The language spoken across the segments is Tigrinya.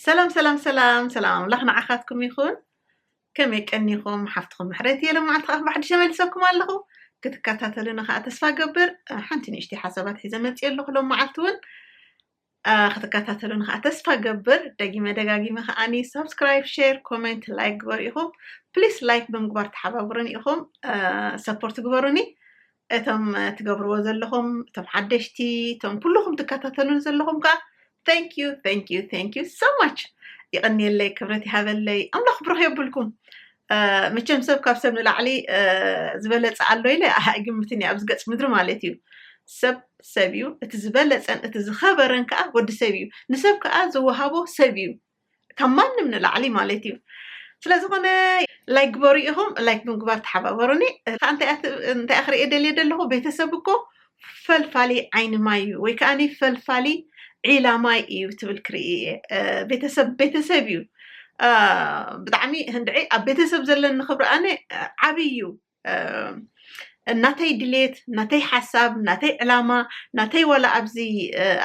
ሰላም ሰላም ሰላም ሰላም ኣምላኽ ንዓኻትኩም ይኹን ከመይ ቀኒኹም ሓፍትኹም ምሕረት እየ ሎመዓልቲ ከዓ ብሓድሽ ተመሊሰኩም ኣለኹ ክትከታተሉኒ ከዓ ተስፋ ገብር ሓንቲ ንእሽተይ ሓሳባት ሒዘ መፅኦ ኣለኹ ሎም መዓልቲ እውን ክትከታተሉኒ ከዓ ተስፋ ገብር ደጊመ ደጋጊመ ከዓኒ ሳብስክራይብ ሸር ኮሜንት ላይክ ግበሩ ኢኹም ፕሊስ ላይክ ብምግባር ተሓባብሩኒ ኢኹም ሰፖርት ግበሩኒ እቶም ትገብርዎ ዘለኹም እቶም ሓደሽቲ እቶም ኩልኹም ትከታተሉን ዘለኹም ከዓ ቴንክ ዩ ቴንክ ዩ ቴንክ ዩ ሶ ማች ይቐንየለይ ክብረት ይሃበለይ ኣምላኽ ብሩኽ የብልኩም መቸም ሰብ ካብ ሰብ ንላዕሊ ዝበለፀ ኣሎ ኢለ ኣይግምትን እዩ ኣብዚ ገፅ ምድሪ ማለት እዩ ሰብ ሰብ እዩ እቲ ዝበለፀን እቲ ዝኸበረን ከዓ ወዲ ሰብ እዩ ንሰብ ከዓ ዝወሃቦ ሰብ እዩ ካብ ማንም ንላዕሊ ማለት እዩ ስለዝኾነ ላይክ ግበሩ ኢኹም ላይክ ብምግባር ተሓባበሩኒ ከዓ እንታይ ክርእየ ደልየ ዘለኹ ቤተሰብ እኮ ፈልፋሊ ዓይኒ ማይ እዩ ወይ ከዓ ፈልፋሊ ዒላ ማይ እዩ ትብል ክርኢ እየ ቤተሰብ ቤተሰብ እዩ ብጣዕሚ ህንድዒ ኣብ ቤተሰብ ዘለኒ ክብሪ ኣነ ዓብይ እዩ ናተይ ድሌት ናተይ ሓሳብ ናተይ ዕላማ ናተይ ዋላ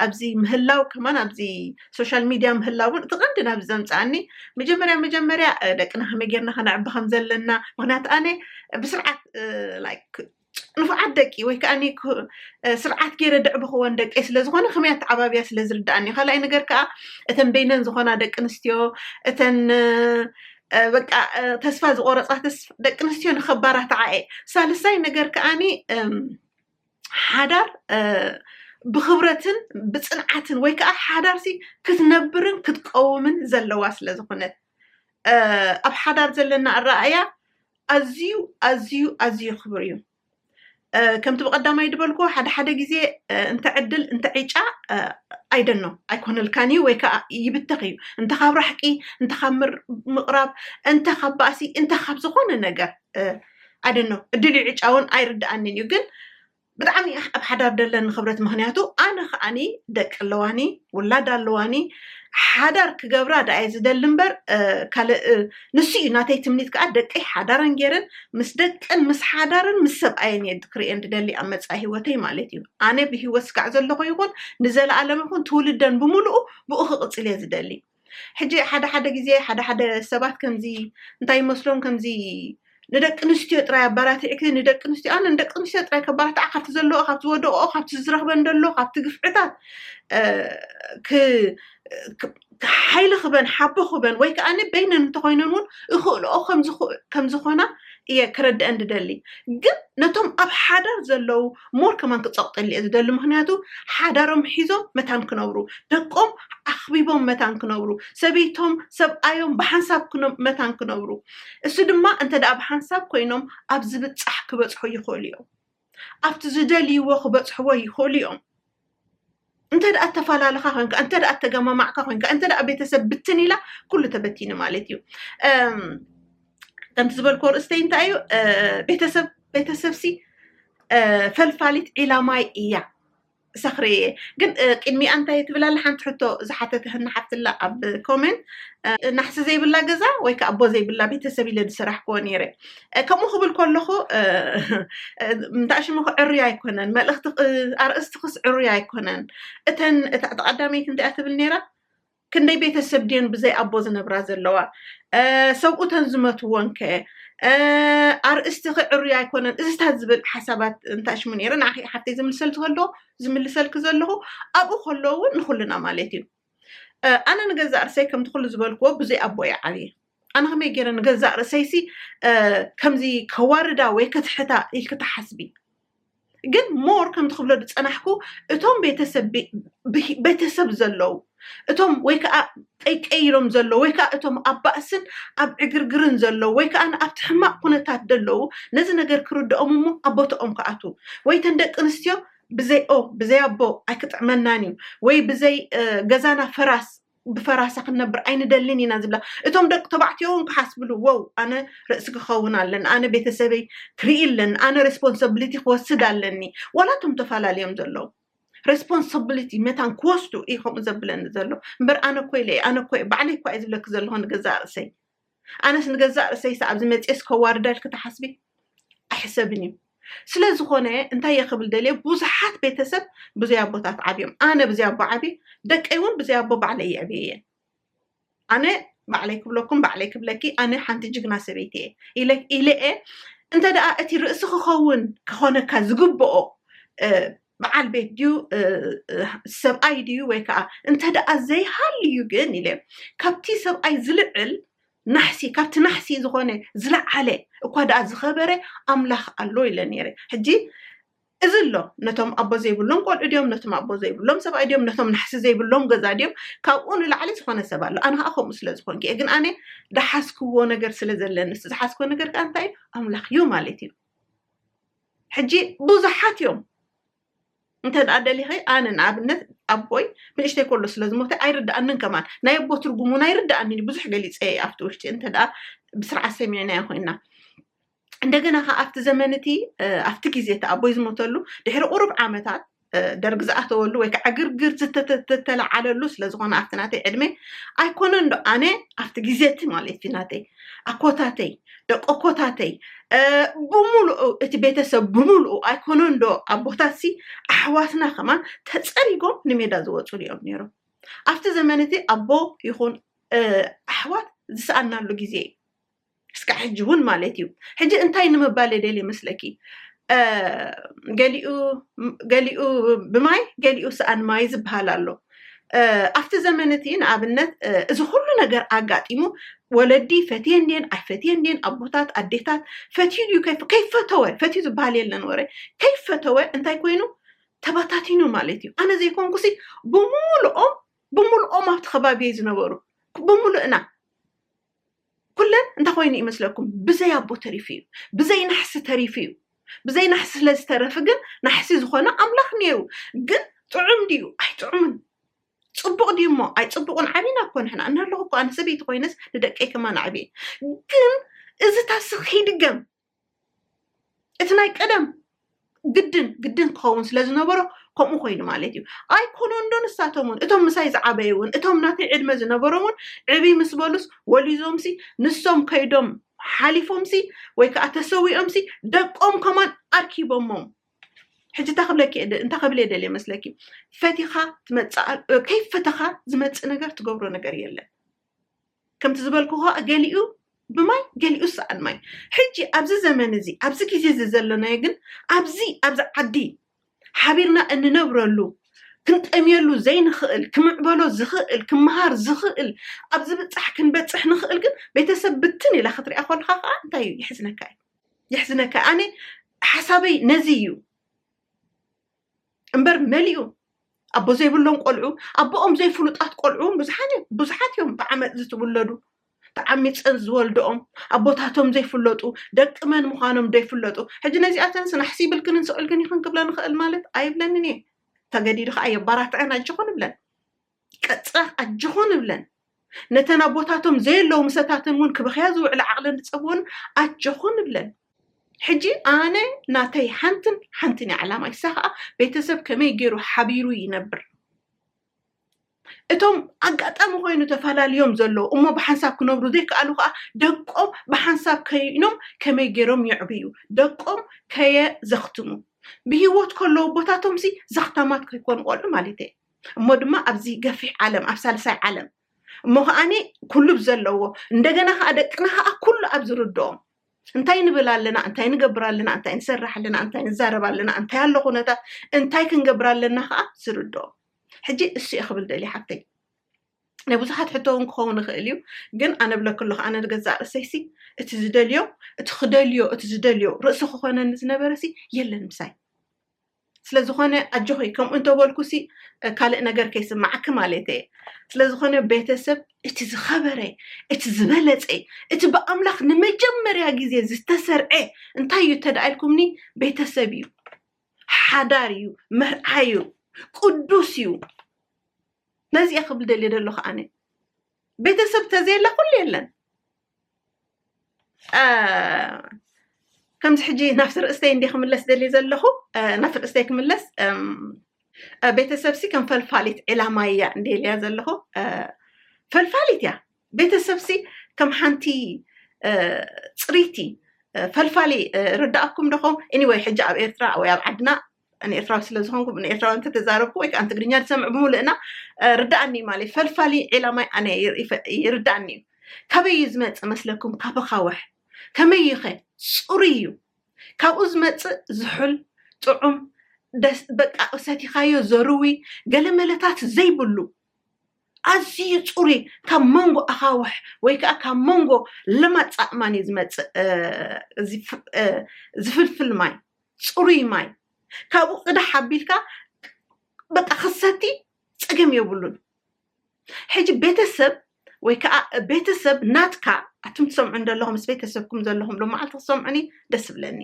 ኣብዚ ምህላው ከማን ኣብዚ ሶሻል ሚድያ ምህላው እውን እቲ ቀንዲ ናብዚ ዘምፃኣኒ መጀመርያ መጀመርያ ደቅና ከመይ ጌርና ከነዕቢ ከም ዘለና ምክንያቱ ኣነ ብስርዓት ንፉዓት ደቂ ወይ ከዓ ስርዓት ገይረ ደዕብክወን ደቂ ስለዝኮነ ከመይ ኣተዓባብያ ስለዝርዳእኒ ካልኣይ ነገር ከዓ እተን በይነን ዝኮና ደቂ ኣንስትዮ እተን በቃ ተስፋ ዝቆረፃ ደቂ ኣንስትዮ ንከባራትዓ እየ ሳልሳይ ነገር ከዓኒ ሓዳር ብክብረትን ብፅንዓትን ወይ ከዓ ሓዳርሲ ክትነብርን ክትቀውምን ዘለዋ ስለ ዝኾነት ኣብ ሓዳር ዘለና ኣረኣያ ኣዝዩ ኣዝዩ ኣዝዩ ክብር እዩ ከምቲ ብቐዳማይ ዝበልኩ ሓደ ሓደ ግዜ እንተ ዕድል እንተ ዒጫ ኣይደኖ ኣይኮነልካን እዩ ወይ ከዓ ይብተኽ እዩ እንተ ካብ ራሕቂ እንተ ካብ ምቕራብ እንተ ካብ ባእሲ እንተ ካብ ዝኾነ ነገር ኣይደኖ ዕድል እዩ ዕጫ እውን ኣይርድኣንን እዩ ግን ብጣዕሚ ኣብ ሓዳር ደለኒ ክብረት ምክንያቱ ኣነ ከዓኒ ደቂ ኣለዋኒ ውላድ ኣለዋኒ ሓዳር ክገብራ ዳኣየ ዝደሊ እምበር ካልእ ንሱ እዩ ናተይ ትምኒት ከኣ ደቀይ ሓዳረን ጌረን ምስ ደቀን ምስ ሓዳረን ምስ ሰብኣየን እየ ክርእየን ድደሊ ኣብ መጻኢ ህይወተይ ማለት እዩ ኣነ ብህይወት ስጋዕ ዘለኹ ይኹን ንዘለኣለም ይኹን ትውልደን ብምሉኡ ብኡ ክቕጽል እየ ዝደሊ ሕጂ ሓደ ሓደ ግዜ ሓደ ሓደ ሰባት ከምዚ እንታይ ይመስሎም ከምዚ ንደቂ ኣንስትዮ ጥራይ ኣባራቲዕኪ ንደቂ ኣንስትዮ ኣነ ንደቂ ኣንስትዮ ጥራይ ከባርትዓ ካብቲ ዘለዎ ካብቲ ዝወደቀኦ ካብቲ ዝረኽበን ደሎ ካብቲ ግፍዕታት ሓይሊ ክበን ሓቦ ክበን ወይ ከዓ በይነን እንተኮይነን እውን እኽእልኦ ከም ዝኾና እየ ክረድአን ዝደሊ ግን ነቶም ኣብ ሓዳር ዘለው ሞር ከማን ክፀቕጠሉ እየ ዝደሊ ምክንያቱ ሓዳሮም ሒዞም መታን ክነብሩ ደቆም ኣኽቢቦም መታን ክነብሩ ሰበይቶም ሰብኣዮም ብሓንሳብ መታን ክነብሩ እሱ ድማ እንተ ደኣ ብሓንሳብ ኮይኖም ኣብ ዝብጻሕ ክበጽሑ ይኽእሉ እዮም። ኣብቲ ዝደልይዎ ክበጽሕዎ ይኽእሉ እዮም። እንተ ደኣ እተፈላለኻ ኮንካ፣ እንተ ደኣ እተገማማዕካ ኮንካ፣ እንተ ደኣ ቤተሰብ ብትን ኢላ ኩሉ ተበቲኑ ማለት እዩ። እም፣ ከምቲ ዝበልክዎ ርእስተይ እንታይ እዩ እ፣ ቤተሰብ ቤተሰብሲ እ፣ ፈልፋሊት ዒላማይ እያ። ሰኽሪ እየ ግን ቅድሚኣ እንታይ ትብላ ኣላ ሓንቲ ሕቶ ዝሓተትህና ሓፍትላ ኣብ ኮሜንት ናሕሲ ዘይብላ ገዛ ወይ ከዓ ኣቦ ዘይብላ ቤተሰብ ኢለ ዝሰራሕክዎ ነይረ ከምኡ ክብል ከለኹ እንታሽሙ ክዕርዩ ኣይኮነን መልእኽቲ ኣርእስቲ ክስ ዕርዩ ኣይኮነን እተን እታ ተቐዳመይቲ እንታይ ትብል ነይራ ክንደይ ቤተሰብ ድየን ብዘይ ኣቦ ዝነብራ ዘለዋ? ሰብኡተን ዝመትዎን ከ? ኣርእስቲኺ ዕሩይ ኣይኮነን እዚታት ዝብል ሓሳባት እንታሽሙ ነይረ ንዓኺ ሓፍተይ ዝምልሰልኪ ከሎ ዝምልሰልኪ ዘለኹ ኣብኡ ከሎ እውን ንኹልና ማለት እዩ ኣነ ንገዛእ ርሰይ ከምቲ ኩሉ ዝበልክዎ ብዙይ ኣቦ እየ ዓብየ ኣነ ከመይ ገይረ ንገዛእ ርእሰይሲ ከምዚ ከዋርዳ ወይ ከትሕታ ኢልኪ ትሓስቢ ግን ሞር ከምቲ ክብሎ ዝፀናሕኩ እቶም ቤተሰብ ዘለዉ እቶም ወይ ከዓ ጠይቀይ ኢሎም ዘለዉ ወይ ከዓ እቶም ኣብ ባእስን ኣብ ዕግርግርን ዘለዉ ወይ ከዓ ኣብቲ ሕማቅ ኩነታት ዘለዉ ነዚ ነገር ክርድኦም እሞ ኣብ ቦታኦም ክኣትዉ ወይ ተን ደቂ ኣንስትዮ ብዘይ ኦ ብዘይ ኣቦ ኣይክጥዕመናን እዩ ወይ ብዘይ ገዛና ፈራስ ብፈራሳ ክንነብር ኣይንደልን ኢና ዝብላ እቶም ደቂ ተባዕትዮ እውን ክሓስብሉ ወው ኣነ ርእሲ ክኸውን ኣለኒ ኣነ ቤተሰበይ ክርኢ ኣለኒ ኣነ ሬስፖንሳብሊቲ ክወስድ ኣለኒ ዋላ እቶም ተፈላለዮም ዘለዉ ሬስፖንሳብሊቲ መታን ክወስዱ እዩ ከምኡ ዘብለኒ ዘሎ እምበር ኣነ ኮ ኢለ ኣነ ኮ ባዕለይ እኳ እዩ ዝብለኪ ዘለኹ ንገዛእ ርእሰይ ኣነስ ንገዛእ ርእሰይስ ኣብዚ መጺኤስ ከዋርዳ ኢልኪ ትሓስቢ ኣይሕሰብን እዩ ስለዝኾነ እንታይ እየ ክብል ደልየ ብዙሓት ቤተሰብ ብዘይ ኣቦታት ዓብዮም ኣነ ብዘይ ኣቦ ዓብየ ደቀይ እውን ብዘይ ኣቦ ባዕለይ የዕብየ እየን ኣነ ባዕለይ ክብለኩም ባዕለይ ክብለኪ ኣነ ሓንቲ ጅግና ሰበይቲ እየ ኢለ ኢለ እየ እንተ ደኣ እቲ ርእሲ ክኸውን ክኾነካ ዝግብኦ በዓል ቤት ድዩ ሰብኣይ ድዩ ወይ ከዓ እንተደኣ ዘይሃልዩ ግን ኢለ ካብቲ ሰብኣይ ዝልዕል ናሕሲ ካብቲ ናሕሲ ዝኾነ ዝለዓለ እኳ ደኣ ዝኸበረ ኣምላኽ ኣሎ ኢለ ነይረ ሕጂ እዚ ኣሎ ነቶም ኣቦ ዘይብሎም ቆልዑ ድዮም ነቶም ኣቦ ዘይብሎም ሰብኣይ ድዮም ነቶም ናሕሲ ዘይብሎም ገዛ ድዮም ካብኡ ንላዕሊ ዝኾነ ሰብ ኣሎ ኣነ ከዓ ከምኡ ስለ ዝኾንኩ እየ ግን ኣነ ዳሓዝክዎ ነገር ስለ ዘለኒ ዝሓዝክዎ ነገር ከዓ እንታይ እዩ ኣምላኽ እዩ ማለት እዩ ሕጂ ብዙሓት እዮም እንተ ደሊኸ ኣነ ንኣብነት ኣቦይ ንእሽተይ ከሎ ስለ ዝሞተ ኣይርድኣንን ከማን ናይ ኣቦ ትርጉም እውን ኣይርድኣንን ብዙሕ ገሊፀ ኣብቲ ውሽጢ እንተ ብስርዓት ሰሚዕናዮ ኮይና እንደገና ከዓ ኣብቲ ዘመን እቲ ኣብቲ ግዜ እቲ ኣቦይ ዝሞተሉ ድሕሪ ቁሩብ ዓመታት ደርግ ዝኣተወሉ ወይ ከዓ ግርግር ዝተተለዓለሉ ስለዝኾነ ኣብቲ ናተይ ዕድመ ኣይኮነን ዶ ኣነ ኣብቲ ግዜ እቲ ማለት እዩ ናተይ ኣኮታተይ ደቂ ኮታተይ ብምሉኡ እቲ ቤተሰብ ብምሉኡ ኣይኮነን ዶ ኣቦታት ሲ ኣሕዋትና ከማን ተፀሪጎም ንሜዳ ዝወፅሉ እዮም ነይሮም ኣብቲ ዘመን እቲ ኣቦ ይኹን ኣሕዋት ዝሰኣናሉ ግዜ እዩ እስካዕ ሕጂ እውን ማለት እዩ ሕጂ እንታይ ንምባል እየ ደልየ መስለኪ ገሊኡ ብማይ ገሊኡ ሰኣን ማይ ዝበሃል ኣሎ ኣብቲ ዘመን እቲ ንኣብነት እዚ ኩሉ ነገር ኣጋጢሙ ወለዲ ፈትየን ድን ኣይፈትየን ድን ኣቦታት ኣዴታት ፈትዩ ድዩ ከይፈተወ ፈትዩ ዝበሃል የለን ወረ ከይፈተወ እንታይ ኮይኑ ተበታቲኑ ማለት እዩ ኣነ ዘይኮንኩሲ ብምሉኦም ብምሉኦም ኣብቲ ከባቢ ዝነበሩ ብምሉእና ኩለን እንታይ ኮይኑ ይመስለኩም ብዘይ ኣቦ ተሪፉ እዩ ብዘይ ናሕሲ ተሪፉ እዩ ብዘይ ናሕሲ ስለ ዝተረፍ ግን ናሕሲ ዝኾነ ኣምላኽ ነይሩ ግን ጥዑም ድዩ ኣይጥዑምን ፅቡቕ ድዩ እሞ ኣይፅቡቕን ዓብና እኮ ንሕና እናለኹ እኮ ኣነ ሰበይቲ ኮይነስ ንደቀይ ከማን ኣዕብየ ግን እዚ ታስኽ ይድገም እቲ ናይ ቀደም ግድን ግድን ክኸውን ስለ ዝነበሮ ከምኡ ኮይኑ ማለት እዩ ኣይኮነን ዶ ንሳቶም እውን እቶም ምሳይ ዝዓበዩ እውን እቶም ናተይ ዕድመ ዝነበሮም እውን ዕብይ ምስ በሉስ ወሊዞምሲ ንሶም ከይዶም ሓሊፎምሲ ወይ ከዓ ተሰዊኦምሲ ደቆም ከማን ኣርኪቦሞም ሕጂ እንታይ ክብለኪ እንታይ ክብል እየ ደልየ መስለኪ ፈቲኻ ትመፅእ ከይፈተኻ ዝመፅእ ነገር ትገብሮ ነገር የለን ከምቲ ዝበልኩ ኸኣ ገሊኡ ብማይ ገሊኡ ሰኣን ማይ ሕጂ ኣብዚ ዘመን እዚ ኣብዚ ግዜ እዚ ዘለናዮ ግን ኣብዚ ኣብዚ ዓዲ ሓቢርና እንነብረሉ ክንጠምየሉ ዘይንኽእል ክምዕበሎ ዝኽእል ክምሃር ዝኽእል ኣብ ዝብጻሕ ክንበጽሕ ንኽእል ግን ቤተሰብ ብትን ኢላ ክትሪኣ ኮልካ ከዓ እንታይ እዩ የሕዝነካ እዩ የሕዝነካ ኣነ ሓሳበይ ነዚ እዩ እምበር መሊኡ ኣቦ ዘይብሎም ቆልዑ ኣቦኦም ዘይፍሉጣት ቆልዑ ብዙሓት እዮም ብዓመፅ ዝትውለዱ ተዓሚፀን ዝወልደኦም ኣቦታቶም ዘይፍለጡ ደቂ መን ምዃኖም ዘይፍለጡ ሕጂ ነዚኣተን ስናሕሲ ይብልክንን ስዕልክን ይኽን ክብለን ይኽእል ማለት ኣይብለንን እየ ተገዲዱ ከዓ የባራትዐን ኣይቸኾን ይብለን ቀጽራ ኣጆኹን ንብለን፣ ነተን ኣቦታቶም ዘየለዉ ምሰታተን እውን ክበኽያ ዝውዕላ ዓቕለን ዝጸበወን ኣጆኹን ንብለን። ሕጂ ኣነ ናተይ ሓንትን ሓንትን እያ ዕላማይ፣ እሳ ከኣ ቤተሰብ ከመይ ገይሩ ሓቢሩ ይነብር፣ እቶም ኣጋጣሚ ኮይኑ ተፈላልዮም ዘለዉ እሞ ብሓንሳብ ክነብሩ ዘይከኣሉ ከኣ ደቆም ብሓንሳብ ከይኖም ከመይ ገይሮም የዕብዩ፣ ደቆም ከየዘኽትሙ፣ ብሂወት ከለዉ ኣቦታቶምሲ ዘኽታማት ከይኮኑ ቆልዑ ማለተይ እየ። እሞ ድማ ኣብዚ ገፊሕ ዓለም ኣብ ሳልሳይ ዓለም እሞ ከዓኒ ኩሉ ብዘለዎ እንደገና ከዓ ደቅና ከዓ ኩሉ ኣብ ዝርድኦም እንታይ ንብል ኣለና እንታይ ንገብር ኣለና እንታይ ንሰርሕ ኣለና እንታይ ንዛረብ ኣለና እንታይ ኣሎ ኩነታት እንታይ ክንገብር ኣለና ከዓ ዝርድኦ ሕጂ እሱ እየ ክብል ደልየ ሓፍተይ ናይ ብዙሓት ሕቶ እውን ክኸውን ይኽእል እዩ ግን ኣነ ብለክ ኣለኹ ኣነ ንገዛእ ርእሰይሲ እቲ ዝደልዮ እቲ ክደልዮ እቲ ዝደልዮ ርእሲ ክኾነኒ ዝነበረሲ የለን ምሳይ ስለዝኾነ ኣጆኺ ከምኡ እንተበልኩሲ ካልእ ነገር ከይስማዓኪ ማለት እየ ስለዝኾነ ቤተሰብ እቲ ዝኸበረ እቲ ዝበለፀ እቲ ብኣምላኽ ንመጀመርያ ግዜ ዝተሰርዐ እንታይ እዩ እንተደኣ ኢልኩምኒ ቤተሰብ እዩ ሓዳር እዩ መርዓ እዩ ቅዱስ እዩ ነዚ እየ ክብል ደልየ ዘለኹ ኣነ ቤተሰብ ተዘየላ ኩሉ የለን ከምዚ ሕጂ ናብቲ ርእስተይ እንዲ ክምለስ ደልየ ዘለኹ ናብቲ ርእስተይ ክምለስ ቤተሰብሲ ከም ፈልፋሊት ዕላማ እያ እንዲ ኢልያ ዘለኹ ፈልፋሊት እያ ቤተሰብሲ ከም ሓንቲ ፅሪቲ ፈልፋሊ ርዳእኩም ደኹም ኢኒወይ ሕጂ ኣብ ኤርትራ ወይ ኣብ ዓድና ንኤርትራዊ ስለ ዝኾንኩ ንኤርትራዊ እንተተዛረብኩ ወይ ከዓ ንትግርኛ ዝሰምዕ ብምሉእና ርዳእኒ ማለት ፈልፋሊ ዒላማይ ኣነ ይርዳእኒ እዩ ካበይ እዩ ዝመፅእ መስለኩም ካብ ኻወሕ ከመይ እዩኸ ፅሩይ እዩ ካብኡ ዝመፅእ ዝሑል ጥዑም በቃ ሰቲኻዮ ዘርዊ ገለመለታት ዘይብሉ ኣዝዩ ፅሩይ ካብ መንጎ ኣኻውሕ ወይ ከዓ ካብ መንጎ ለማፃእማን እዩ ዝመፅእ ዝፍልፍል ማይ ፅሩይ ማይ ካብኡ ቅዳሕ ኣቢልካ በቃ ክሰቲ ፀገም የብሉን። ሕጂ ቤተሰብ ወይ ከዓ ቤተሰብ ናትካ ኣቱም ትሰምዑ ዘለኹም ምስ ቤተሰብኩም ዘለኹም ሎመዓልቲ ክሰምዑኒ ደስ ብለኒ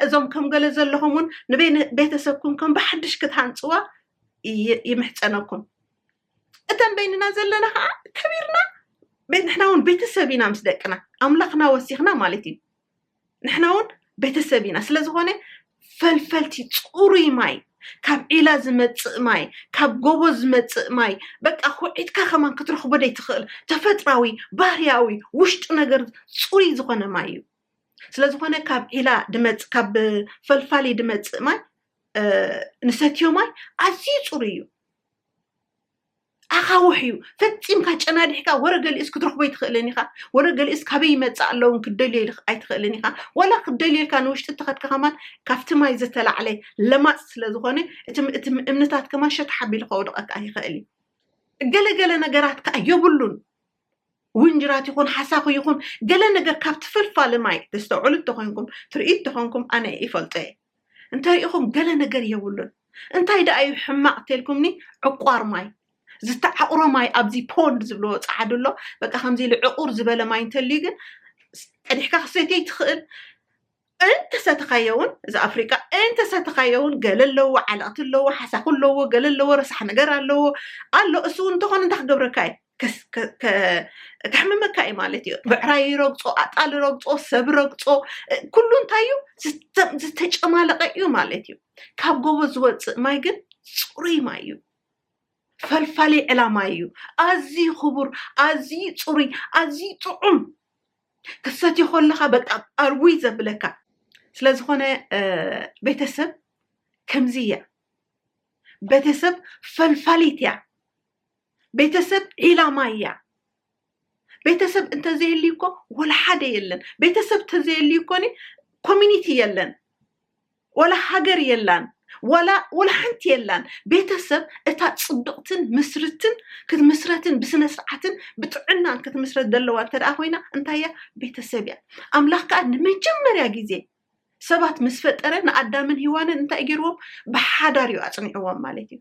እዞም ከም ገለ ዘለኹም እውን ንቤተሰብኩም ከም ብሓድሽ ክትሃንፅዋ ይምሕፀነኩም እተን በይንና ዘለና ከዓ ከቢርና ንሕና እውን ቤተሰብ ኢና ምስ ደቅና ኣምላኽና ወሲኽና ማለት እዩ ንሕና እውን ቤተሰብ ኢና ስለ ዝኾነ ፈልፈልቲ ፅሩይ ማይ ካብ ዒላ ዝመፅእ ማይ ካብ ጎቦ ዝመፅእ ማይ በቃ ኩዒትካ ከማን ክትረኽቦ ዘይትኽእል ተፈጥራዊ ባህርያዊ ውሽጡ ነገር ፅሩይ ዝኾነ ማይ እዩ ስለ ዝኾነ ካብ ዒላ ድመፅ ካብ ፈልፋሊ ድመፅእ ማይ ንሰትዮ ማይ ኣዝዩ ፅሩይ እዩ ኣኻውሕ እዩ ፈፂምካ ጨናዲሕካ ወረ ገሊኡስ ክትረኽቦ ኣይትኽእልን ኢኻ ወረ ገሊኡስ ካበይ ይመፅእ ኣለውን ክትደልዮ ኣይትኽእልን ኢኻ ዋላ ክትደልየልካ ንውሽጢ እተኸድካ ከማን ካብቲ ማይ ዝተላዕለ ለማፅ ስለ ዝኾነ እቲ እምንታት ከማን ሸታሕ ኣቢሉ ከውድቐካ ይኽእል እዩ ገለገለ ነገራት ከዓ የብሉን ውንጅራት ይኹን ሓሳኹ ይኹን ገለ ነገር ካብ ትፈልፋለ ማይ ተስተውዕሉ እንተኾይንኩም ትርእዩ እንተኾንኩም ኣነ ይፈልጦ እየ እንተሪኢኹም ገለ ነገር የብሉን እንታይ ደኣ እዩ ሕማቕ ተልኩምኒ ዕቋር ማይ ዝተዓቑሮ ማይ ኣብዚ ፖንድ ዝብልዎ ፀዓዱ ኣሎ በቃ ከምዚ ኢሉ ዕቑር ዝበለ ማይ እንተልዩ ግን ቀዲሕካ ክሰትይ ትኽእል እንተ ሰተኻዮ ውን እዚ ኣፍሪቃ እንተ ሰተኻዮ ውን ገለ ኣለዎ ዓለቕቲ ኣለዎ ሓሳኹ ኣለዎ ገለ ኣለዎ ረሳሕ ነገር ኣለዎ ኣሎ እሱ ውን እንተኾነ እንታይ ክገብረካ እዩ ከሕምመካ እዩ ማለት እዩ ብዕራይ ይረግፆ ኣጣል ረግፆ ሰብ ረግፆ ኩሉ እንታይ እዩ ዝተጨማለቀ እዩ ማለት እዩ ካብ ጎቦ ዝወፅእ ማይ ግን ፅሩይ ማይ እዩ ፈልፋሊ ዕላማ እዩ ኣዝዩ ክቡር ኣዝዩ ፅሩይ ኣዝዩ ጥዑም ክትሰትዮ ከለኻ በቃ ኣርውይ ዘብለካ ስለዝኾነ ቤተሰብ ከምዚ እያ ቤተሰብ ፈልፋሊት እያ ቤተሰብ ዒላማ እያ ቤተሰብ እንተዘየልዩ እኮ ወላ ሓደ የለን ቤተሰብ እንተዘየልዩ እኮ ኮሚኒቲ የለን ዋላ ሃገር የላን ዋላ ዋላ ሓንቲ የላን ቤተሰብ እታ ጽብቅትን ምስርትን ክትምስረትን ብስነስርዓትን ብጥዕናን ክትምስረት ዘለዋ እንተ ደኣ ኮይና እንታይ እያ ቤተሰብ እያ ኣምላኽ ከኣ ንመጀመርያ ግዜ ሰባት ምስ ፈጠረ ንኣዳምን ሂዋንን እንታይ ገይርዎም ብሓዳር እዩ ኣጽኒዕዎም ማለት እዩ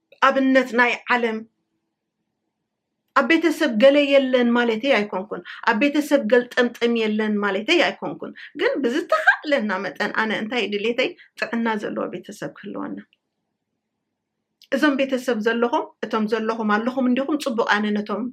ኣብነት ናይ ዓለም ኣብ ቤተሰብ ገለ የለን ማለተይ ኣይኮንኩን ኣብ ቤተሰብ ገልጠምጠም የለን ማለተይ ኣይኮንኩን ግን ብዝተኻእለና መጠን ኣነ እንታይ ድሌተይ ጥዕና ዘለዎ ቤተሰብ ክህልወና እዞም ቤተሰብ ዘለኹም እቶም ዘለኹም ኣለኹም እንዲኹም ፅቡቅ ኣነ ነቶም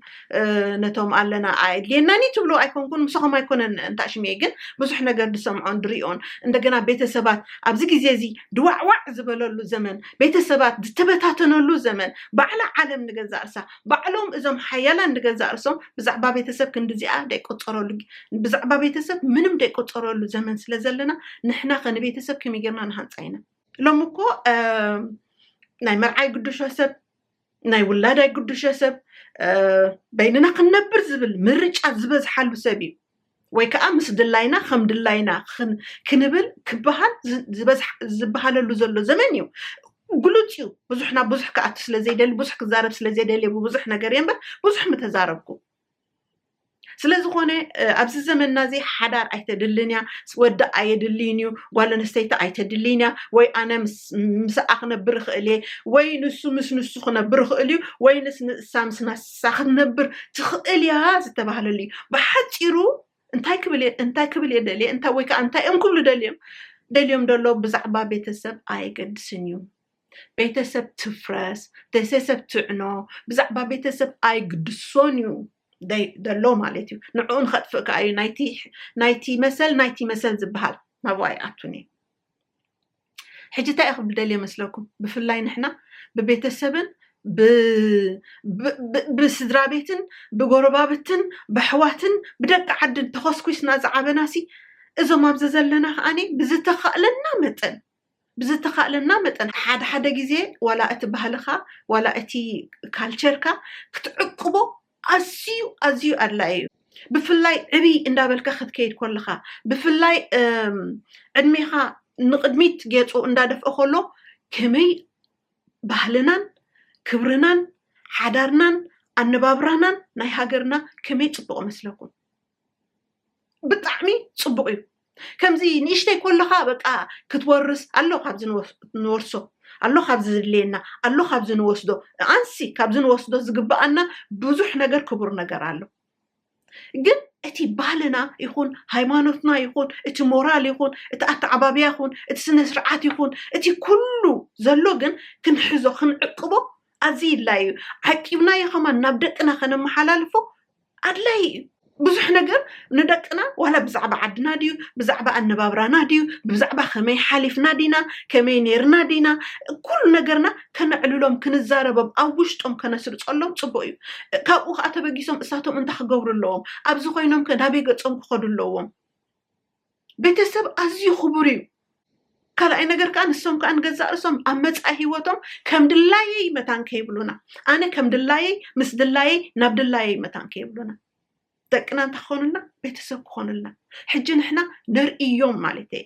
ነቶም ኣለና ኣየድልየናኒ ትብሉ ኣይኮንኩን ምስኹም ኣይኮነን እንታሽምየ ግን ብዙሕ ነገር ድሰምዖን ድሪኦን እንደገና ቤተሰባት ኣብዚ ግዜ እዚ ድዋዕዋዕ ዝበለሉ ዘመን ቤተሰባት ዝተበታተነሉ ዘመን ባዕላ ዓለም ንገዛእ ርሳ ባዕሎም እዞም ሓያላን ንገዛእ ርሶም ብዛዕባ ቤተሰብ ክንዲዚኣ ደይቆፀረሉ ብዛዕባ ቤተሰብ ምንም ደይቆፀረሉ ዘመን ስለ ዘለና ንሕና ከ ንቤተሰብ ከመይ ጌርና ንሃንፃ ኢና ሎም እኮ ናይ መርዓይ ግዱሾ ሰብ ናይ ውላድ ኣይግዱሸ ሰብ በይንና ክንነብር ዝብል ምርጫ ዝበዝሓሉ ሰብ እዩ ወይ ከዓ ምስ ድላይና ከም ድላይና ክንብል ክበሃል ዝበሃለሉ ዘሎ ዘመን እዩ ግሉፅ እዩ ብዙሕ ናብ ብዙሕ ክኣቱ ስለ ዘይደሊ ብዙሕ ክዛረብ ስለ ዘይደሊ ብብዙሕ ነገር እየ እምበር ብዙሕ ምተዛረብኩ ስለዝኾነ ኣብዚ ዘመንና እዚ ሓዳር ኣይተድልን እያ ወዲ ኣየድልይን እዩ ጓል ኣንስተይቲ ኣይተድልይን እያ ወይ ኣነ ምስኣ ክነብር ይኽእል እየ ወይ ንሱ ምስ ንሱ ክነብር ይኽእል እዩ ወይ ንስ ንእሳ ምስ ንሳ ክትነብር ትኽእል እያ ዝተባህለሉ እዩ ብሓፂሩ እንታይ ክብል እንታይ ክብል እየ ደልየ እንታይ ወይ ከዓ እንታይ እዮም ክብሉ ደልዮም ደልዮም ደሎ ብዛዕባ ቤተሰብ ኣየገድስን እዩ ቤተሰብ ትፍረስ ቤተሰብ ትዕኖ ብዛዕባ ቤተሰብ ኣይግድሶን እዩ ደሎ ማለት እዩ ንዕኡ ንኸጥፍእ ከዓ እዩ ናይቲ መሰል ናይቲ መሰል ዝበሃል ናብኡ ኣይኣቱን እዩ ሕጂ እንታይ እዩ ክብል ደልየ መስለኩም ብፍላይ ንሕና ብቤተሰብን ብስድራ ቤትን ብጎረባብትን ብኣሕዋትን ብደቂ ዓድን ተኸስኩስና ዝዓበናሲ እዞም ኣብዚ ዘለና ከዓኒ ብዝተኸእለና መጠን ብዝተኻእለና መጠን ሓደ ሓደ ግዜ ዋላ እቲ ባህልኻ ዋላ እቲ ካልቸርካ ክትዕቅቦ ኣዝዩ ኣዝዩ ኣድላይ እዩ ብፍላይ ዕብይ እንዳበልካ ክትከይድ ኮለኻ ብፍላይ ዕድሜኻ ንቕድሚት ጌጹ እንዳደፍኦ ኮሎ ከመይ ባህልናን ክብርናን ሓዳርናን ኣነባብራናን ናይ ሃገርና ከመይ ጽቡቕ መስለኩም ብጣዕሚ ፅቡቅ እዩ ከምዚ ንእሽተይ ከለካ በቃ ክትወርስ ኣሎ ካብዚ ንወርሶ ኣሎ ካብዚ ዝድልየና ኣሎ ካብዚ ንወስዶ ኣንሲ ካብዚ ንወስዶ ዝግብኣና ብዙሕ ነገር ክቡር ነገር ኣሎ ግን እቲ ባህልና ይኹን ሃይማኖትና ይኹን እቲ ሞራል ይኹን እቲ ኣተዓባብያ ይኹን እቲ ስነ ስርዓት ይኹን እቲ ኩሉ ዘሎ ግን ክንሕዞ ክንዕቅቦ ኣዝዩ ይድላይ እዩ ዓቂብናዮ ከማን ናብ ደቅና ከነመሓላልፎ ኣድላይ እዩ ብዙሕ ነገር ንደቅና ዋላ ብዛዕባ ዓድና ድዩ ብዛዕባ ኣነባብራና ድዩ ብዛዕባ ከመይ ሓሊፍና ዲና ከመይ ነርና ዲና ኩሉ ነገርና ከነዕልሎም ክንዛረቦም ኣብ ውሽጦም ከነስርፀሎም ፅቡቅ እዩ ካብኡ ከዓ ተበጊሶም እሳቶም እንታይ ክገብሩ ኣለዎም ኣብዚ ኮይኖም ከ ናበይ ገፆም ክኸዱ ኣለዎም ቤተሰብ ኣዝዩ ክቡር እዩ። ካልኣይ ነገር ከዓ ንሶም ከዓ ንገዛእ ርእሶም ኣብ መፃኢ ህይወቶም ከም ድላየይ መታን ከይብሉና ኣነ ከም ድላየይ ምስ ድላየይ ናብ ድላየይ መታን ከይብሉና ደቅና እንታይ ክኾኑልና ቤተሰብ ክኾኑልና ሕጂ ንሕና ነርእዮም ማለት እየ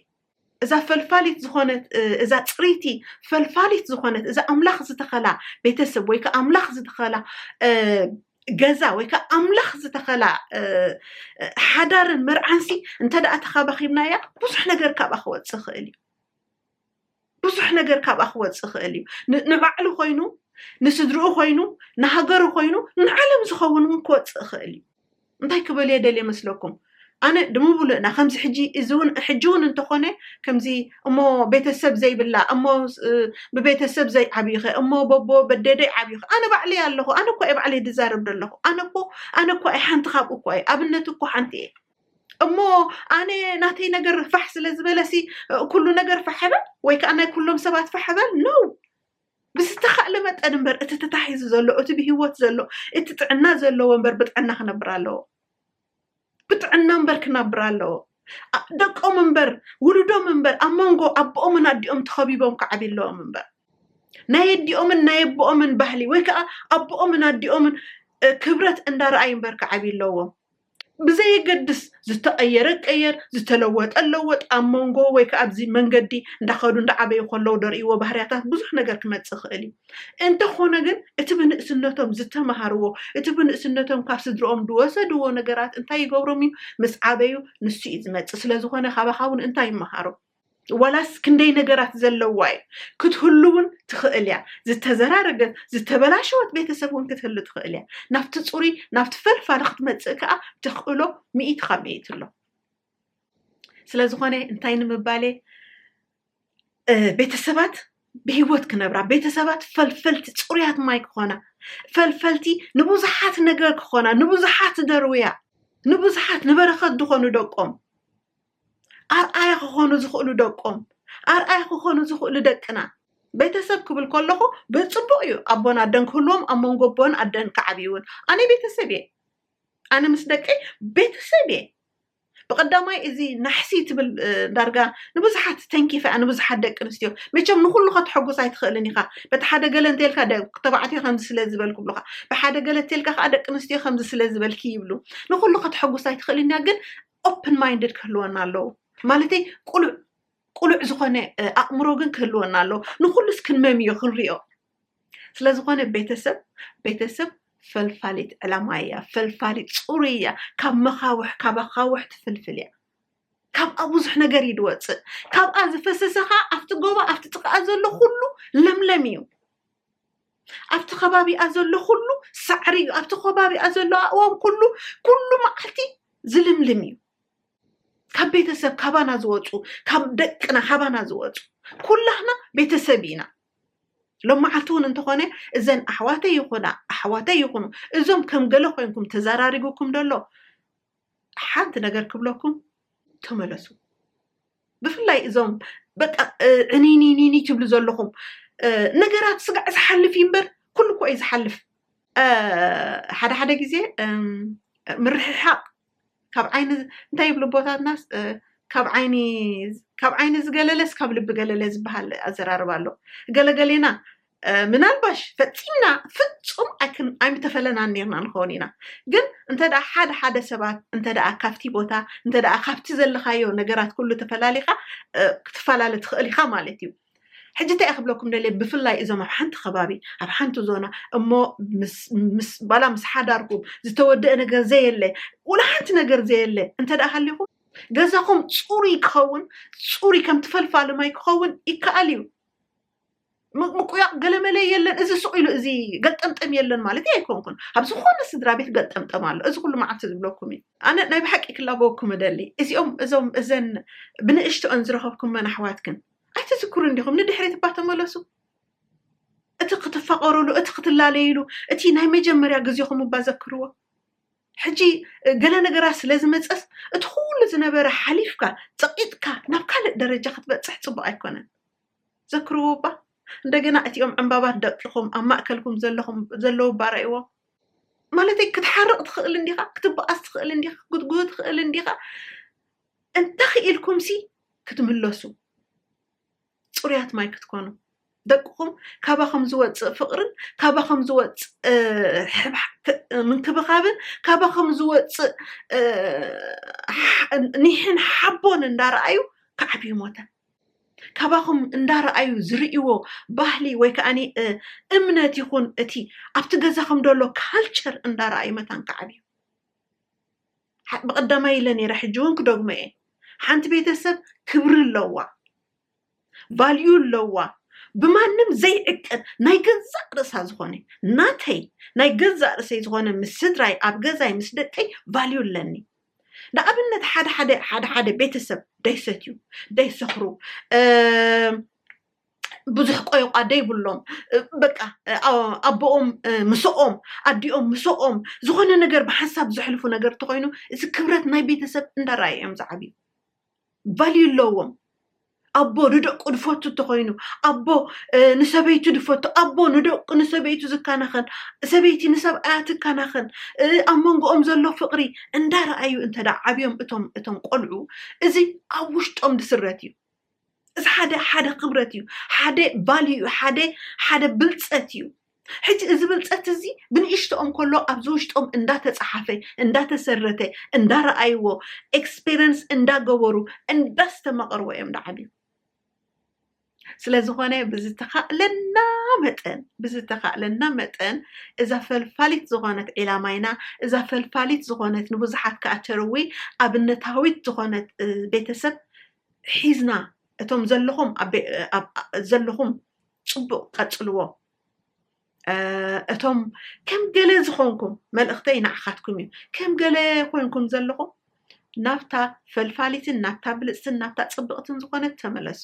እዛ ፈልፋሊት ዝኾነት እዛ ፅሪቲ ፈልፋሊት ዝኾነት እዛ ኣምላኽ ዝተኸላ ቤተሰብ ወይ ከዓ ኣምላኽ ዝተኸላ ገዛ ወይ ከዓ ኣምላኽ ዝተኸላ ሓዳርን መርዓንሲ እንተ ደኣ ተኻባኺብናያ ብዙሕ ነገር ካብኣ ክወፅእ ይኽእል እዩ ብዙሕ ነገር ካብኣ ክወፅእ ይኽእል እዩ ንባዕሉ ኮይኑ ንስድርኡ ኮይኑ ንሃገሩ ኮይኑ ንዓለም ዝኸውን እውን ክወፅእ ይኽእል እዩ እንታይ ክበልየ ደልየ መስለኩም ኣነ ድምብሉእና ከምዚ ሕጂ እዚ ውን ሕጂ ውን እንተኾነ ከምዚ እሞ ቤተሰብ ዘይብላ እሞ ብቤተሰብ ዘይዓብዩኸ እሞ በቦ በዴደይ ዓብዩኸ ኣነ ባዕለይ ኣለኹ ኣነ እኳ እየ ባዕለይ ድዛረብ ደለኹ ኣነ እኮ ኣነ እኳ እየ ሓንቲ ካብኡ እኳ እየ ኣብነት እኮ ሓንቲ እየ እሞ ኣነ ናተይ ነገር ፋሕ ስለ ዝበለሲ ኩሉ ነገር ፋሕበል ወይ ከዓ ናይ ኩሎም ሰባት ፋሕበል ነው ብዝተኻእለ መጠን እምበር እቲ ተታሒዙ ዘሎ እቲ ብሂወት ዘሎ እቲ ጥዕና ዘለዎ እምበር ብጥዕና ክነብር ኣለዎ ብጥዕና እምበር ክነብር ኣለዎ። ደቆም እምበር ውሉዶም እምበር ኣብ መንጎ ኣቦኦምን ኣዲኦም ተኸቢቦም ክዓብዩ ኣለዎም እምበር ናይ ኣዲኦምን ናይ ኣቦኦምን ባህሊ ወይ ከዓ ኣቦኦምን ኣዲኦምን ክብረት እንዳረኣዩ እምበር ክዓብዩ ኣለዎም። ብዘየገድስ ዝተቐየረ ቀየር ዝተለወጠ ለወጥ ኣብ መንጎ ወይ ከዓ ኣብዚ መንገዲ እንዳኸዱ እንዳዓበዩ ከለዉ ደርእይዎ ባህርያታት ብዙሕ ነገር ክመፅእ ይኽእል እዩ። እንተኾነ ግን እቲ ብንእስነቶም ዝተመሃርዎ፣ እቲ ብንእስነቶም ካብ ስድርኦም ዝወሰድዎ ነገራት እንታይ ይገብሮም እዩ? ምስ ዓበዩ ንሱ እዩ ዝመጽእ። ስለዝኾነ ካባኻ እውን እንታይ ይመሃሩ? ዋላስ ክንደይ ነገራት ዘለዋ እዩ? ክትህሉ እውን ትኽእል እያ። ዝተዘራረገት፣ ዝተበላሸወት ቤተሰብ እውን ክትህሉ ትኽእል እያ። ናብቲ ጽሩይ፣ ናብቲ ፈልፋሊ ክትመጽእ ከኣ ተኽእሎ ሚእቲ ካብ ሚእቲ ኣሎ። ስለዝኾነ እንታይ ንምባል እየ? ቤተሰባት ብሂወት ክነብራ ቤተሰባት ፈልፈልቲ ፅሩያት ማይ ክኾና ፈልፈልቲ ንብዙሓት ነገር ክኾና ንብዙሓት ደርውያ ንብዙሓት ንበረኸት ዝኾኑ ደቆም ኣርኣያ ክኾኑ ዝኽእሉ ደቆም ኣርኣያ ክኾኑ ዝኽእሉ ደቅና ቤተሰብ ክብል ከለኹ ብፅቡቅ እዩ ኣቦን ኣደን ክህልዎም ኣብ መንጎ ኣቦን ኣደን ክዓብይውን ኣነ ቤተሰብ እየ ኣነ ምስ ደቀይ ቤተሰብ እየ ብቐዳማይ እዚ ናሕሲ ትብል ዳርጋ ንብዙሓት ተንኪፋ እያ ንብዙሓት ደቂ ኣንስትዮ መቸም ንኹሉ ከተሐጉስ ኣይትኽእልን ኢኻ በቲ ሓደ ገለ እንተልካ ተባዕትዮ ከምዚ ስለ ዝበል ክብሉኻ ብሓደ ገለ እተልካ ከዓ ደቂ ኣንስትዮ ከምዚ ስለ ዝበልኪ ይብሉ ንኹሉ ከተሐጉስ ኣይትኽእልን እያ ግን ኦፕን ማይንድድ ክህልወና ኣለዉ ማለተይ ቁሉዕ ቁሉዕ ዝኾነ ኣእምሮ ግን ክህልወና ኣለዎ ንኩሉስ ክንመምዮ ክንሪኦ ስለዝኾነ ቤተሰብ ቤተሰብ ፈልፋሊት ዕላማ እያ፣ ፈልፋሊት ፅሩይ እያ፣ ካብ መኻውሕ ካብ ኣኻውሕ ትፍልፍል እያ። ካብኣ ብዙሕ ነገር እዩ ዝወፅእ። ካብኣ ዝፈሰሰ ከዓ ኣብቲ ጎባ ኣብቲ ጥቃኣ ዘሎ ኩሉ ለምለም እዩ። ኣብቲ ከባቢኣ ዘሎ ኩሉ ሳዕሪ እዩ። ኣብቲ ከባቢኣ ዘሎ ኣእዋም ኩሉ ኩሉ መዓልቲ ዝልምልም እዩ። ካብ ቤተሰብ ካባና ዝወፁ ካብ ደቅና ካባና ዝወፁ ኩላህና ቤተሰብ ኢና። ሎማዓልቲ እውን እንተኾነ እዘን ኣሕዋተይ ይኹና ኣሕዋተይ ይኹኑ እዞም ከም ገለ ኮይንኩም ተዘራሪቡኩም ደሎ ሓንቲ ነገር ክብለኩም ተመለሱ ብፍላይ እዞም በቃ ዕኒኒኒኒ ትብሉ ዘለኹም ነገራት ስጋዕ ዝሓልፍ እዩ እምበር ኩሉ እኮ እዩ ዝሓልፍ ሓደ ሓደ ግዜ ምርሕሓቕ ካብ ዓይኒ እንታይ ይብሉ ኣቦታትናስ ካብ ዓይኒ ካብ ዓይኒ ዝገለለስ ካብ ልቢ ገለለ ዝበሃል ኣዘራርባ ኣሎ ገለገሌና ምናልባሽ ፈፂምና ፍፁም ኣይምተፈለናን ነርና ንኸውን ኢና ግን እንተ ሓደ ሓደ ሰባት እንተ ካብቲ ቦታ እንተ ካብቲ ዘለካዮ ነገራት ኩሉ ተፈላሊካ ክትፈላለ ትኽእል ኢኻ ማለት እዩ ሕጂ እንታይ እየ ክብለኩም ደልየ ብፍላይ እዞም ኣብ ሓንቲ ከባቢ ኣብ ሓንቲ ዞና እሞ ባላ ምስ ሓዳርኩም ዝተወደአ ነገር ዘየለ ወላ ሓንቲ ነገር ዘየለ እንተ ደኣ ሃሊኹም ገዛኹም ፅሩይ ክኸውን ፅሩይ ከም ትፈልፋሊ ማይ ክኸውን ይከኣል እዩ ምቁያቕ ገለመለ የለን እዚ ሱቕ ኢሉ እዚ ገጠምጠም የለን ማለት ኣይኮንኩን ኣብ ዝኾነ ስድራ ቤት ገጠምጠም ኣሎ እዚ ኩሉ መዓልቲ ዝብለኩም እዩ ኣነ ናይ ብሓቂ ክላበወኩም እደሊ እዚኦም እዞም እዘን ብንእሽቶኦን ዝረኸብኩመን ኣሕዋትክን ኣይትዝክሩን ዲኹም? ንድሕሪት እባ ተመለሱ። እቲ ክትፋቐሩሉ፣ እቲ ክትላለዩሉ፣ እቲ ናይ መጀመርያ ግዜኹም እባ ዘክርዎ። ሕጂ ገለ ነገራት ስለ ዝመጸስ እቲ ኩሉ ዝነበረ ሓሊፍካ ጸቒጥካ ናብ ካልእ ደረጃ ክትበጽሕ ጽቡቕ ኣይኮነን። ዘክርዎ እባ እንደገና እቲኦም ዕምባባት ደቂኹም ኣብ ማእከልኩም ዘለኹም ዘለዉ እባ ረእይዎም። ማለተይ ክትሓርቕ ትኽእል እንዲኻ፣ ክትበኣስ ትኽእል እንዲኻ፣ ክትጉህ ትኽእል እንዲኻ። እንተኽኢልኩምሲ ክትምለሱ፣ ፅሩያት ማይ ክትኮኑ፣ ደቅኹም ካባኹም ዝወፅእ ፍቕርን ካባኹም ዝወፅእ ምንክብኻብን ካባኹም ዝወፅእ ኒሕን ሓቦን እንዳረኣዩ ክዓብዩ ሞተ ካባኹም እንዳረኣዩ ዝርእይዎ ባህሊ ወይ ከዓ እምነት ይኹን እቲ ኣብቲ ገዛኹም ደሎ ካልቸር እንዳረኣዩ መታን ክዓብዩ ብቀዳማይ ኢለ ነይረ ሕጂ ውን ክደግሞ እየ ሓንቲ ቤተሰብ ክብሪ ኣለዋ ቫልዩ ኣለዋ ብማንም ዘይዕቀን ናይ ገዛእ ርእሳ ዝኾነ ናተይ ናይ ገዛእ ርእሰይ ዝኾነ ምስ ስድራይ ኣብ ገዛይ ምስ ደቀይ ቫልዩ ኣለኒ ንኣብነት ሓደ ሓደ ሓደ ሓደ ቤተሰብ ደይሰትዩ ደይሰኽሩ ብዙሕ ቆይቋ ደይብሎም በቃ ኣቦኦም ምስኦም ኣዲኦም ምስኦም ዝኾነ ነገር ብሓንሳብ ዘሕልፉ ነገር ተኮይኑ እዚ ክብረት ናይ ቤተሰብ እንዳረኣየ እዮም ዝዓብዩ ቫልዩ ኣለዎም ኣቦ ንደቁ ድፈቱ እንተኮይኑ ኣቦ ንሰበይቱ ድፈቱ ኣቦ ንደቁ ንሰበይቱ ዝከናኸን ሰበይቲ ንሰብኣያ ትከናኸን ኣብ መንጎኦም ዘሎ ፍቅሪ እንዳረኣዩ እንተዳ ዓብዮም እቶም እቶም ቆልዑ እዚ ኣብ ውሽጦም ድስረት እዩ እዚ ሓደ ሓደ ክብረት እዩ ሓደ ቫልዩ እዩ ሓደ ሓደ ብልፀት እዩ ሕጂ እዚ ብልፀት እዚ ብንእሽተኦም ከሎ ኣብዚ ውሽጦም እንዳተፀሓፈ እንዳተሰረተ እንዳረኣይዎ ኤክስፔሪንስ እንዳገበሩ እንዳስተማቐርዎ እዮም ዳዓብዩ ስለዝኾነ ብዝተኻእለና መጠን ብዝተኻእለና መጠን እዛ ፈልፋሊት ዝኾነት ዒላማይና እዛ ፈልፋሊት ዝኾነት ንብዙሓት ከዓ ተርዊ ኣብነታዊት ዝኾነት እ፣ ቤተሰብ ሒዝና እቶም ዘለኹም ዘለኹም ፅቡቕ ቀፅልዎ እቶም ከም ገለ ዝኾንኩም መልእኽተይ ንዓኻትኩም እዩ ከም ገለ ኮንኩም ዘለኹም ናብታ ፈልፋሊትን ናብታ ብልፅትን ናብታ ፅብቕትን ዝኾነት ተመለሱ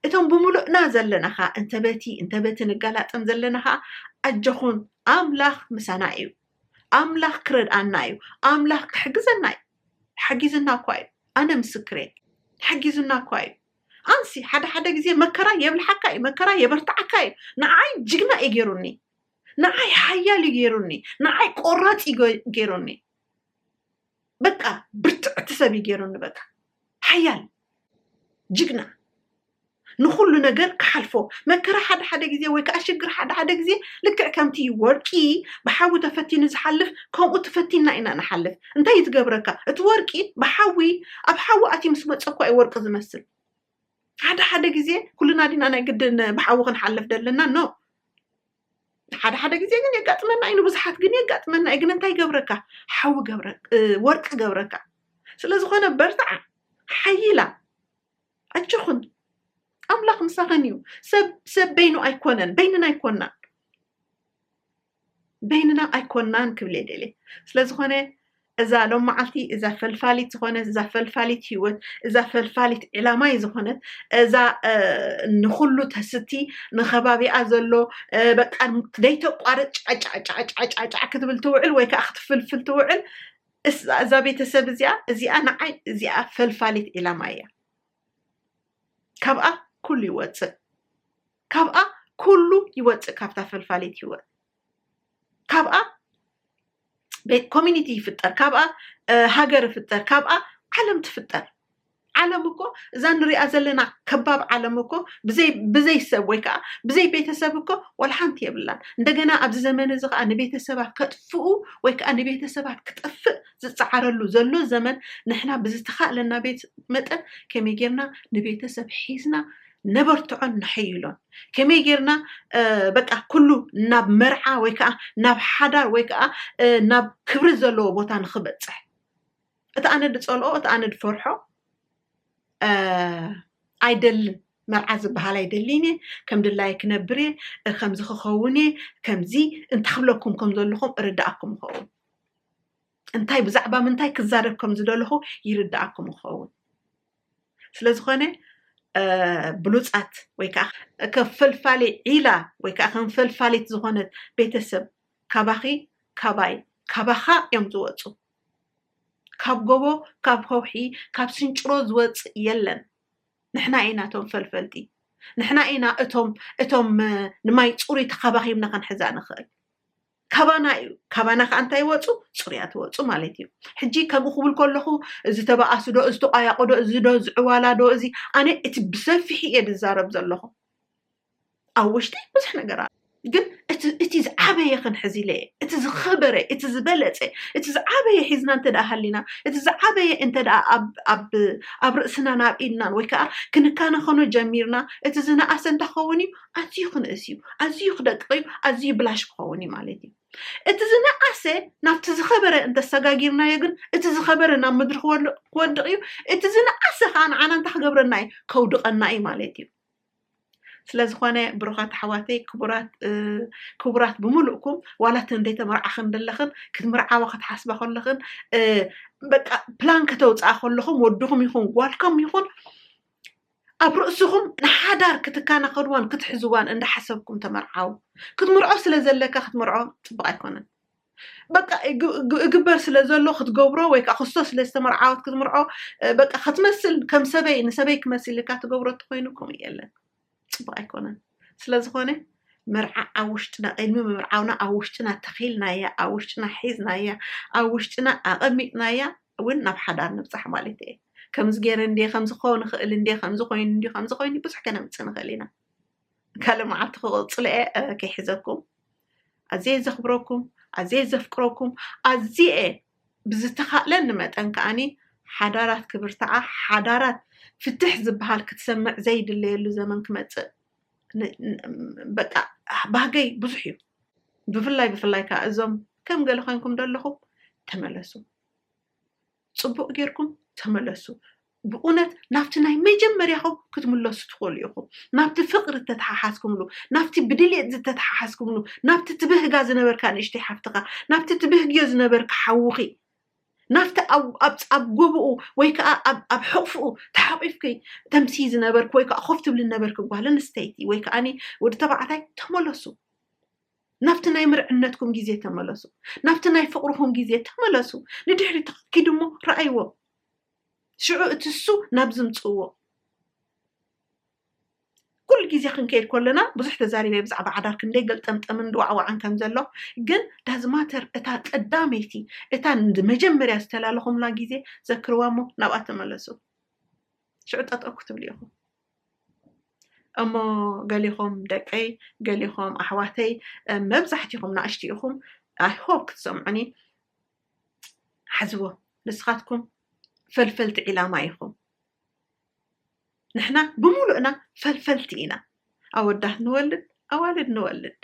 እቶም ብምሉእና ዘለና ኸኣ እንተ በቲ እንተ በቲ ንጋላጠም ዘለና ኸኣ ኣጆኹም ኣምላኽ ምሳና እዩ ኣምላኽ ክረድኣና እዩ ኣምላኽ ክሕግዘና እዩ ሓጊዝና እኳ እዩ ኣነ ምስክር እየ ሓጊዙና እኳ እዩ ኣንሲ ሓደ ሓደ ግዜ መከራ የብልሓካ እዩ መከራ የበርትዓካ እዩ ንዓይ ጅግና እዩ ገይሩኒ ንዓይ ሓያል እዩ ገይሩኒ ንዓይ ቆራፅ እዩ ገይሩኒ በቃ ብርትዕቲ ሰብ እዩ ገይሩኒ በቃ ሓያል ጅግና ንኩሉ ነገር ክሓልፎ መከራ ሓደ ሓደ ግዜ ወይ ከዓ ሽግር ሓደ ሓደ ግዜ ልክዕ ከምቲ ወርቂ ብሓዊ ተፈቲኑ ዝሓልፍ ከምኡ ተፈቲና ኢና ንሓልፍ እንታይ እዩ ዝገብረካ እቲ ወርቂ ብሓዊ ኣብ ሓዊ ኣትዩ ምስ መፀ እኳ እዩ ወርቂ ዝመስል ሓደ ሓደ ግዜ ኩልና ዲና ናይ ግድን ብሓዊ ክንሓልፍ ደለና ኖ ሓደ ሓደ ግዜ ግን የጋጥመና እዩ ንብዙሓት ግን የጋጥመና እዩ ግን እንታይ ገብረካ ሓዊ ገብረ ወርቂ ገብረካ ስለ ዝኾነ በርትዓ ሓይላ ኣጆኹን ኣምላኽ ምሳኸን እዩ ሰብ ሰብ በይኑ ኣይኮነን በይንና ኣይኮናን በይንና ኣይኮናን ክብል የደልየ ስለ ዝኾነ እዛ ሎም መዓልቲ እዛ ፈልፋሊት ዝኾነት እዛ ፈልፋሊት ህይወት እዛ ፈልፋሊት ዕላማይ ዝኾነት እዛ ንኩሉ ተስቲ ንከባቢኣ ዘሎ በቃ ዘይተቋርፅ ጫጫጫጫጫጫ ክትብል ትውዕል ወይ ከዓ ክትፍልፍል ትውዕል እዛ ቤተሰብ እዚኣ እዚኣ ንዓይ እዚኣ ፈልፋሊት ዕላማ እያ ካብኣ ኩሉ ይወፅእ ካብኣ ኩሉ ይወፅእ ካብታ ፈልፋሊት ህይወት ካብኣ ኮሚኒቲ ይፍጠር፣ ካብኣ ሃገር ይፍጠር፣ ካብኣ ዓለም ትፍጠር። ዓለም እኮ እዛ ንሪኣ ዘለና ከባብ ዓለም እኮ ብዘይ ሰብ ወይ ከዓ ብዘይ ቤተሰብ እኮ ዋላ ሓንቲ የብላን። እንደገና ኣብዚ ዘመን እዚ ከዓ ንቤተሰባት ከጥፍኡ ወይ ከዓ ንቤተሰባት ክጠፍእ ዝፀዓረሉ ዘሎ ዘመን ንሕና ብዝተኻእለና ቤት መጠን ከመይ ጌርና ንቤተሰብ ሒዝና ነበርትዖን ነሐይሎን። ከመይ ጌርና በቃ ኩሉ ናብ መርዓ ወይ ከዓ ናብ ሓዳር ወይ ከዓ ናብ ክብሪ ዘለዎ ቦታ ንክበፅሕ እቲ ኣነ ዝፀልኦ እቲ ኣነ ዝፈርሖ ኣይደልን መርዓ ዝበሃል ኣይደልይን እየ ከም ድላይ ክነብር እየ ከምዚ ክኸውን እየ ከምዚ እንታይ ክብለኩም ከም ዘለኹም እርዳእኩም ይኸውን እንታይ ብዛዕባ ምንታይ ክዛረብ ከም ዝደለኹ ይርድኣኩም ክኸውን ስለዝኾነ ብሉፃት ወይ ከዓ ከፈልፋሊ ዒላ ወይ ከዓ ከንፈልፋሊት ዝኾነት ቤተሰብ ካባኺ ካባይ ካባኻ እዮም ዝወፁ ካብ ጎቦ ካብ ከውሒ ካብ ስንጭሮ ዝወፅእ የለን ንሕና ኢና እቶም ፈልፈልቲ ንሕና ኢና እቶም እቶም ንማይ ፅሩይ ተኻባኺብና ክንሕዛ ንኽእል ካባና እዩ ካባና ከዓ እንታይ ይወፁ ፅሩያት ይወፁ ማለት እዩ ሕጂ ከምኡ ክብል ከለኹ እዚ ተባኣሱ ዶ እዚ ተቋያቆ ዶ እዚ ዶ ዝዕዋላ ዶ እዚ ኣነ እቲ ብሰፊሑ እየ ዝዛረብ ዘለኹ ኣብ ውሽጢ ብዙሕ ነገር ኣሎ ግን እቲ ዝዓበየ ክንሕዚ ኢለ እየ እቲ ዝኸበረ እቲ ዝበለፀ እቲ ዝዓበየ ሒዝና እንተ ሃሊና እቲ ዝዓበየ እንተ ኣብ ርእስናን ኣብ ኢድናን ወይ ከዓ ክንከናኸኖ ጀሚርና እቲ ዝነኣሰ እንተኸውን እዩ ኣዝዩ ክንእስ እዩ ኣዝዩ ክደቅቕ እዩ ኣዝዩ ብላሽ ክኸውን እዩ ማለት እዩ እቲ ዝነኣሰ ናብቲ ዝኸበረ እንተሰጋጊርናዮ ግን እቲ ዝኸበረ ናብ ምድሪ ክወድቕ እዩ እቲ ዝነኣሰ ከዓ ንዓና እንታይ ክገብረና እዩ ከውድቐና እዩ ማለት እዩ ስለዝኾነ ብሩኻት ኣሕዋተይ ክቡራት ብምሉእኩም ዋላ እቲ እንደይተመርዓኽን ዘለኽን ክትምርዓዋ ክትሓስባ ከለኽን በቃ ፕላን ከተውፅኣ ከለኹም ወድኹም ይኹን ጓልኩም ይኹን ኣብ ርእስኹም ንሓዳር ክትካናኸንዋን ክትሕዝዋን እንዳሓሰብኩም ተመርዓው ክትምርዖ ስለ ዘለካ ክትምርዖ ጽብቅ ኣይኮነን በቃ እግበር ስለ ዘሎ ክትገብሮ ወይ ከዓ ክስቶ ስለ ዝተመርዓወት ክትምርዖ በቃ ክትመስል ከም ሰበይ ንሰበይ ክመስል ኢልካ ትገብሮ ተኮይኑ ከምኡ የለን ጽቡቅ ኣይኮነን ስለዝኾነ መርዓ ኣብ ውሽጥና ቅድሚ ምምርዓውና ኣብ ውሽጥና ተኺልናያ ኣብ ውሽጥና ሒዝናያ ኣብ ውሽጥና ኣቐሚጥናያ እውን ናብ ሓዳር ንብፃሕ ማለት እየ ከምዚ ገይረ እንደ ከምዚ ክኸውን ይኽእል እንደ ከምዚ ኮይኑ እንዲ ከምዚ ኮይኑ ብዙሕ ከነምፅእ ንኽእል ኢና ካልእ መዓልቲ ክቕፅሎ እየ ከይሕዘኩም ኣዝየ ዘኽብረኩም ኣዝየ ዘፍቅረኩም ኣዝየ ብዝተኻእለኒ መጠን ከኣ ሓዳራት ክብርትዓ፣ ሓዳራት ፍትሕ ዝበሃል ክትሰምዕ ዘይድለየሉ ዘመን ክመጽእ በቃ ባህገይ ብዙሕ እዩ። ብፍላይ ብፍላይ ከኣ እዞም ከም ገለ ኮይንኩም ደለኹም ተመለሱ፣ ጽቡቕ ጌርኩም ተመለሱ፣ ብኡነት ናብቲ ናይ መጀመርያኹም ክትምለሱ ትኽእሉ ኢኹም፣ ናብቲ ፍቕሪ እተተሓሓዝኩምሉ፣ ናብቲ ብድሌት ዝተተሓሓዝኩምሉ፣ ናብቲ ትብህጋ ዝነበርካ ንእሽተይ ሓፍትኻ፣ ናብቲ ትብህግዮ ዝነበርኪ ሓውኺ፣ ናብቲ ኣብ ኣብ ኣብ ጎብኡ ወይ ከኣ ኣብ ኣብ ሕቕፍኡ ተሓቚፍኪ ተምስዪ ዝነበርኪ ወይ ከኣ ኮፍ ትብሊ ዝነበርኪ ጓል ኣንስተይቲ ወይ ከኣኒ ወዲ ተባዕታይ ተመለሱ። ናብቲ ናይ ምርዕነትኩም ግዜ ተመለሱ። ናብቲ ናይ ፍቕርኹም ግዜ ተመለሱ። ንድሕሪት ኪዱ እሞ ረኣይዎ። ሽዑ እቲ እሱ ናብ ዝምፅእዎ ኩሉ ግዜ ክንከይድ ከለና ብዙሕ ተዛሪበ ብዛዕባ ዓዳር ክንደይ ገልጠምጠምን ድዋዕዋዕን ከም ዘሎ ግን ዳዝማተር እታ ቀዳመይቲ እታ መጀመርያ ዝተላለኹምላ ግዜ ዘክርዋ እሞ ናብኣ ተመለሱ ሽዑ ጠጠው ክትብሉ ኢኹም እሞ ገሊኹም ደቀይ ገሊኹም ኣሕዋተይ መብዛሕትኹም ንኣሽቲ ኢኹም ኣይሆፕ ክትሰምዑኒ ሓዝዎ ንስኻትኩም ፈልፈልቲ ዒላማ ኢኹም ንሕና ብምሉእና ፈልፈልቲ ኢና ኣወዳት ንወልድ ኣዋልድ ንወልድ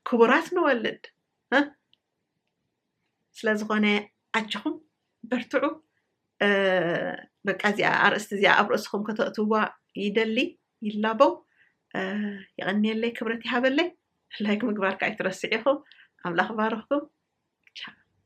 ክቡራት ንወልድ ስለ ዝኾነ ኣጆኹም በርትዑ በቃ እዚኣ ኣርእስቲ እዚኣ ኣብ ርእስኹም ከተእትዋ ይደሊ ይላበው የቐንየለይ ክብረት ይሃበለይ ላይክ ምግባርካ ኣይትረስዕ ኢኹም ኣምላኽ ባርኽኩም